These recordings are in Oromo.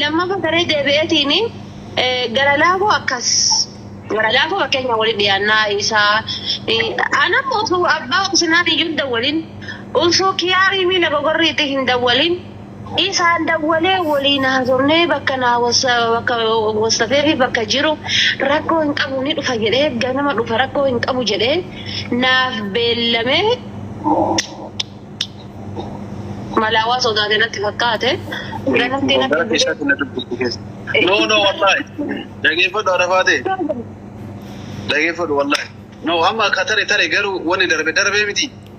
Lammaffaa garee deebi'eetiin gara laafoo akkas gara laafoo fakkeenya waliin dhiyaannaa isaa anam utuu abbaa obsinaan iyyuu hin dawwalin utuu kiyaarii miila gogorriitti hin dawwalin Isaan dawwalee woliin haasofnee bakka naa wossafeefi bakka jiru rakkoo hin qabu ni dhufa jedhee ganama dhufa rakkoo hin qabu jedhee naaf beellame malaa waa sodaate natti fakkaate ganamtii natti hin bulee.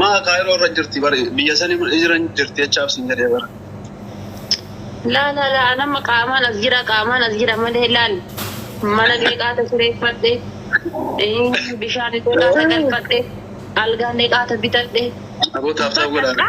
Maa kaayiroo irra jirti bari biyya sani jira hin jirti jechaaf sin jedhee bara. Laa laa laa an amma qaamaan as jira qaamaan as jira malee laal mana meeqaata sireeffadhe eh, bishaan meeqaata galfadhe algaa meeqaata bitadhe Aboo taaf taaf godhaa.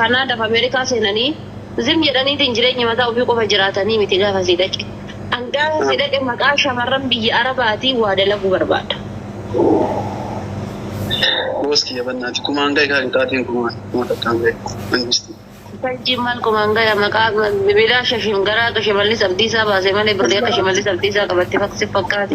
Kanaadaaf Ameerikaa seenanii zim jedhaniitiin jireenya mataa ofii qofa jiraatanii miti gaafa asii dhaqe. An gaafa asii dhaqe maqaa shamarran biyya Arabaatiin waa dalaguu barbaada. Boos kiyya bannaati kumaan gahe kaa qixaaxiin kumaa kuma takkaan gahe mangistii. Sanjiin maal kumaan gaya maqaa bilaasha shimgaraa akka shimallis abdiisaa baase malee birrii akka shimallis abdiisaa qabatte sitti fakkaate.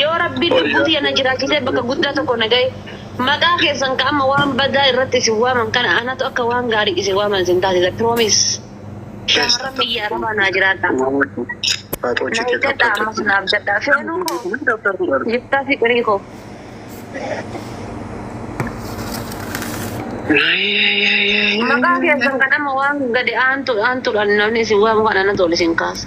Yoo Rabbiin lubbuu tiyya na jiraachisee bakka guddaa tokko na gaye, maqaa keessan ka amma waan badaa irratti isin waaman kana anatu akka waan gaarii isin waaman isin taasisa. Promise. Shaamarran biyya Arabaa naa jiraadhaa. Na eeggadhaa ammas na abdadhaa. Feenuu koo, Yiftaa Fiqirii koo. Maqaa keessan kan amma waan gadi aantuudhaan namni isin waamu kana anatu ol isin kaasa.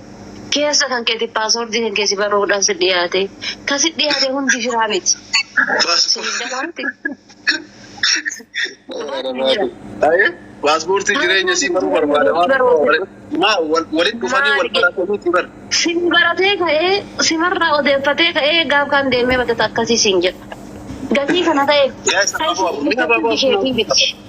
Keessa kan keeti password kan kee si barruudhaan si dhiyaate. Kan si dhiyaate hundi firaa miti. Siniif galaa miti? Paaspoortii jireenya sii baruu barbaada waliin dhufanii wal barataniiti bar. Sin baratee ka'ee simarraa odeeffatee ka'ee gaaf kaan deemee badata akkasii siin jedha. Gatii kana ta'eef. Yaa isa baaboo abu. Mina baaboo abu.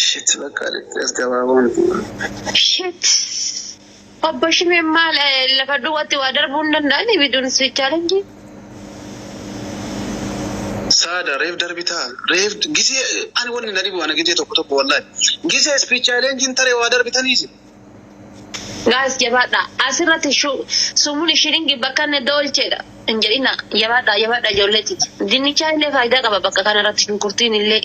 Shit bakka dhaqxee as gabaaboo miti. Shit. Obbo Shimeen maal eh, lafa duwwaatti waa darbuu hin danda'ani biduun sweet challenge. Saada reef darbitaa reef gisee ani wanni na dhibu ana gisee tokko tokko wallahi gisee speech challenge tare waa darbitaniisi. Guys jabaadha asirratti shu sumuni shiringi bakkanne doolcheedha hin jedhina jabaadha jabaadha ijoollee titi dinnichaa illee faayidaa qaba bakka kana irratti shunkurtiin illee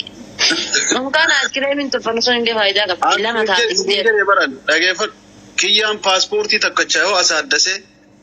dunkaana askireemiin tolfannu sun illee faayidaa qaba As lama taate jedhe jedhe baran dhageeffadhu kiyyaan paaspoortii takkacha yoo asaaddase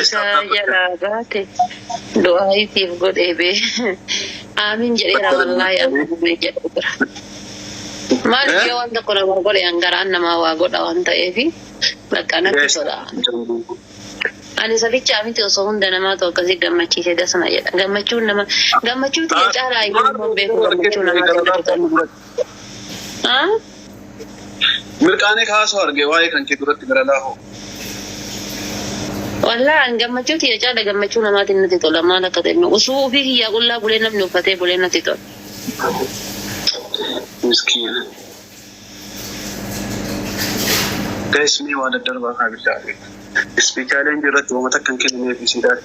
Isaa jalaa baate du'aayii siif godhee bee. Aamiin jedheera wallaahi amma namni jedhu jira. Maaliif yoo waan tokko namaa godhe an garaan namaa waa godha waan ta'eefi bakka natti tola. Ani isa bichaa miti osoo hunda namaatu akkasii gammachiise dasna jedha. Gammachuun nama gammachuu tiyya caalaa ayyuu nama hin beeku gammachuu namaa jaalatu kana. Mirqaanee kaasuu arge waa'ee kan kee duratti miralaa hoo. Wallah an gammachuu tiyya caala gammachuu namaatin natti tola maal akka ta'e immoo usuu ufii kiyyaa qullaa bulee namni uffatee bulee natti tola. Miskiina. Guys mee waa daddarbaa kaa billah. Speechaalee irratti wama takka hin kennineef isiidhaaf.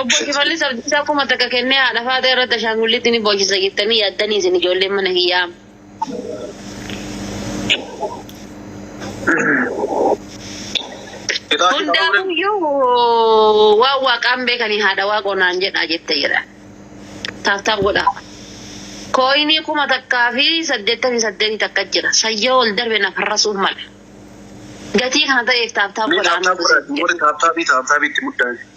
Obbo Shimallis Abdiisaa kuma takka kennee haadha faaxee irratti ashaangulliitti ni boochisa jettanii yaaddanii isin ijoolleen mana kiyyaa? Hundaafuyyuu waan waaqaan beekanii haadha waaqoo naan jedhaa jette jedha. Taaf taaf godhaa. Kooyinii kuma takkaa fi saddeettamii saddeetii takka jira. San yoo ol darbe na farrasuun mala. Gatii kana ta'eef taaf taaf godhaa. Mee taaptaap godhaa warri taaptaabii taaptaabii itti muddaani.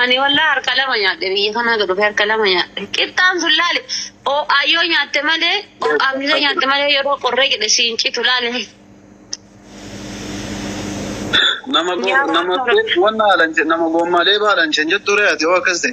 Ani wallaa harka lama nyaadhe biyya kanaa dhufe harka lama nyaadhe. Qixxaan sun laale oo'aa yoo nyaatte malee oo'aa miila nyaatte malee yeroo qorree jedhe siin citu laale. Nama go Yaa nama Rabbi. nama haalan nama goommaa leeba haalan chenjettu re'ati oo akkas ta'e.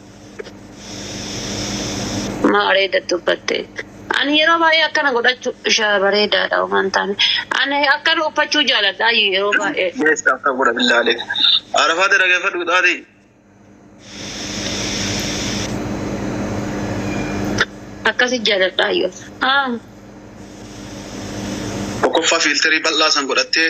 Maa areeda tuffatte. Ani yeroo baay'ee akkana godhachu isha bareedaadha waan taane. Ani akkana uffachuu jaaladha ayyu yeroo baay'ee. Yes akka godha billaale. Arafaa te dhagefadhu xaati. Akkasi jaaladha ayyu. Ah. Tokkoffaa fiilterii bal'aa san godhattee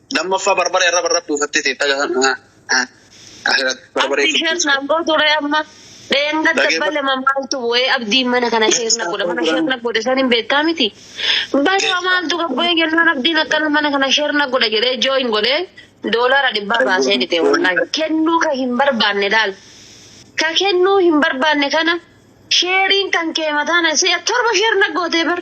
Lammaffaa barbaree irra barra buufattee teetta barbaree Abdii sheer naan gootu ree amma dheenga Dhageeffa- dabbale maaltu bu'ee abdiin mana kana sheer na godhe mana sheer na godhe san hin beektaa miti balaa maaltu gabbu'ee jennaan abdiin akkana mana kana sheer na godhe jedhee jooyin godhee doolaara dhibbaa baasee dhite wallaahi kennuu ka hin barbaanne laal ka kennuu hin barbaanne kana sheeriin kan kee mataana si'a torba sheer na gootee bar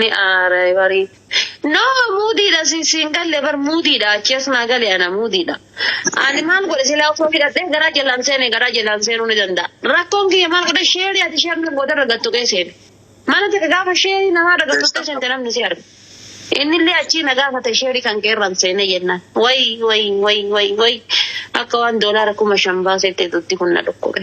Ni aara barii. No muudiidha si siin galle bar muudiidha achi as naa gale ana muudiidha. Ani maal godhe silaa osoo hidhadhee garaa jalaan seene garaa jalaan seenuu ni danda'a. Rakkoon kiyya maal godhe sheerii ati sheer na goote irra gad tuqee seene. Mana takka gaafa sheerii namaa irra gad tuqxee seente namni si arga. Innillee achii na gaafate sheerii kan kee irraan seenee jennaan. Way way way way way akka waan doolaara kuma shan baaseetti duddi kun na dhukkube.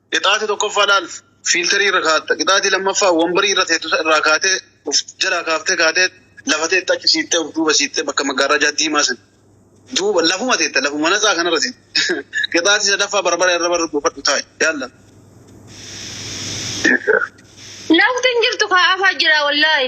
Qixaati tokkoffaa laalf fiilterii irra kaatta. Qixaati lammaffaa wambarii irra teettu irraa kaatee of jalaa kaaftee kaatee lafa teetta achi siittee of duuba siittee bakka maggaarrajaa diimaa san duuba lafuma teetta lafuma natsaa kanarra teetta. Qixaati sadaffaa barbara irra barra buufadhu taa'i. Yaalla. Lafti hin jirtu kaa afaa jira wallaahi.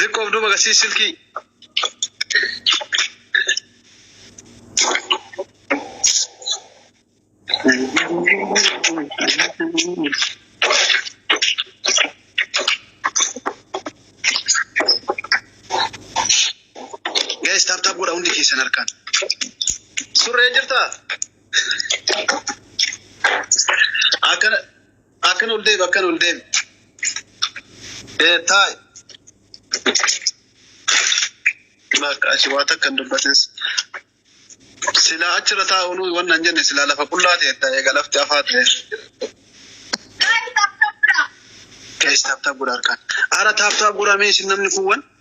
Diqqoo of duuba agarsiisi silkii. Guys tap tap godha hundi keessan harkaan. Surree jirtaa? Akkana Akkan ol deebi akkan ol deebi. Ee taa'i. Bakka achi waa takka hin dubbatis. Silaa achirra taa'u nuyi wanna hin jenne silaa lafa qullaa ta'e ta'e egaa lafti afaa ta'e. Guys taaptaap godha harkaan. Ara taaptaap godha mee isin namni kuuwwan.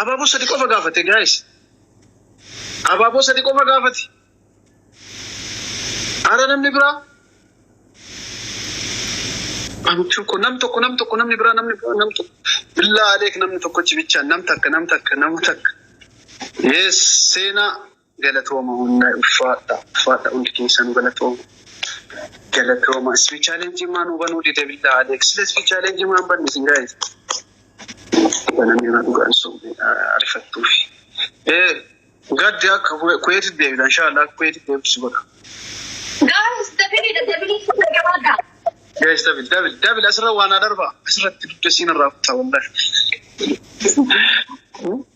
Abaaboo sadi qofa gaafate guys. Abaaboo sadi qofa gaafate. Ara namni biraa. Amichuu ko nam tokko nam tokko namni biraa namni biraa nam tokko. Billaa aleek namni tokkochi bichaan nam takka nam takka nama takka. Yes seenaa. Galatooma hunda ulfaadha ulfaadha hundi keessanu galatooma galatooma spi challenge maa nuu banuu dide billaa aleek sila spi challenge maa hin banne isin gaa'is banamee maa dhugaan sobne arifattuufi ee gaddi akka kuweetit deebita inshaallah akka kuweetit deebitu si godha Guys, dabili da dabili fuula gabaadha. Guys, dabil dabil dabil asirra waan haa darba asirratti dugda siin irraa kutaa wallahi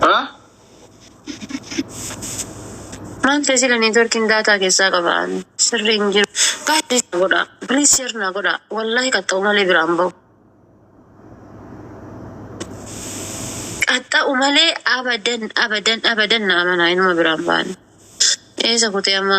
Haa? Waan ta'e sila networking daataa keessaa qaba sirrii hin jiru. Guys please na godha. Please share na godha. Wallahi qaxxa'u malee biraan bahu. Qaxxa'u malee abadan abadan abadan na amanaa inuma biraan bahan. Eessa kutee amma?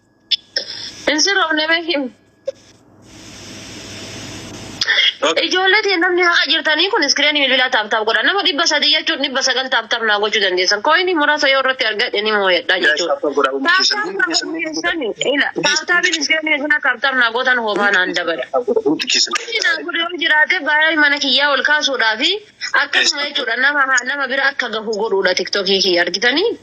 Hin sirroofne mee him. Ijoollee ta'e namni haqa jirtanii kun iskireenii bilbilaa taaptaap godha. Nama dhibba sadii jechuun dhibba sagal taaptaap naa gochuu dandeessan. Kooyinii muraasa yoo irratti argadhe ni mooyadha jechuudha. Taaptaapiin iskireenii isin taaptaap naa gootan hoomaa naan dabala. Inni naa godhe yoo jiraate baay'ee mana kiyyaa ol kaasuudhaa fi akkasuma jechuudha nama nama bira akka gahu godhuudha tiktokii kiyya argitanii.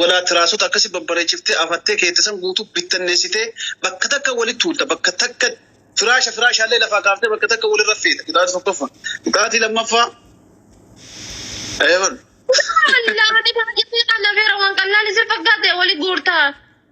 Walaa tiraasota akkasi babbareechiftee afattee keette san guutuu bittanneessitee bakka takka walitti tuulta, bakka takka firaasha firaashaallee lafaa kaaftee bakka takka walirra feeta. Qixaaxa tokkoffaa. Qixaaxi lammaffaa Eebalu. Subhaanallah ati baay'ee seexanna feera waan qallaan isin fakkaatte wali guurta.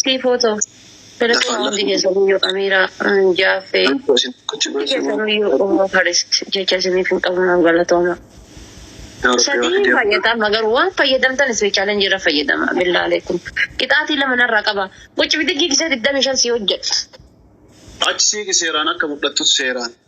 Sii footoo. Telefoon hundi keessanii yoo Amiiraa hin jaaffee hundi keessanuu yoo Ummu First jecha isiniif hin qabu naaf galatooma. Sadii hin fayyada amma garuu waan fayyadamtan isii challenge irra fayyadama billaa aleekum. Qixaatii lama narraa qaba. Qucci bidiggii gisee digdamii shan sii hojjedha. Achi siiqi seeraan akka mudhattus seeraan.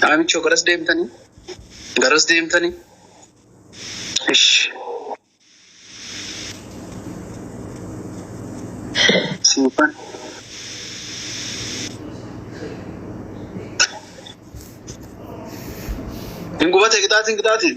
Dhaamichoo garas deemtanii? Garas deemtanii? Ish. Siifan. Hin gubatee qixaatiin qixaatiin?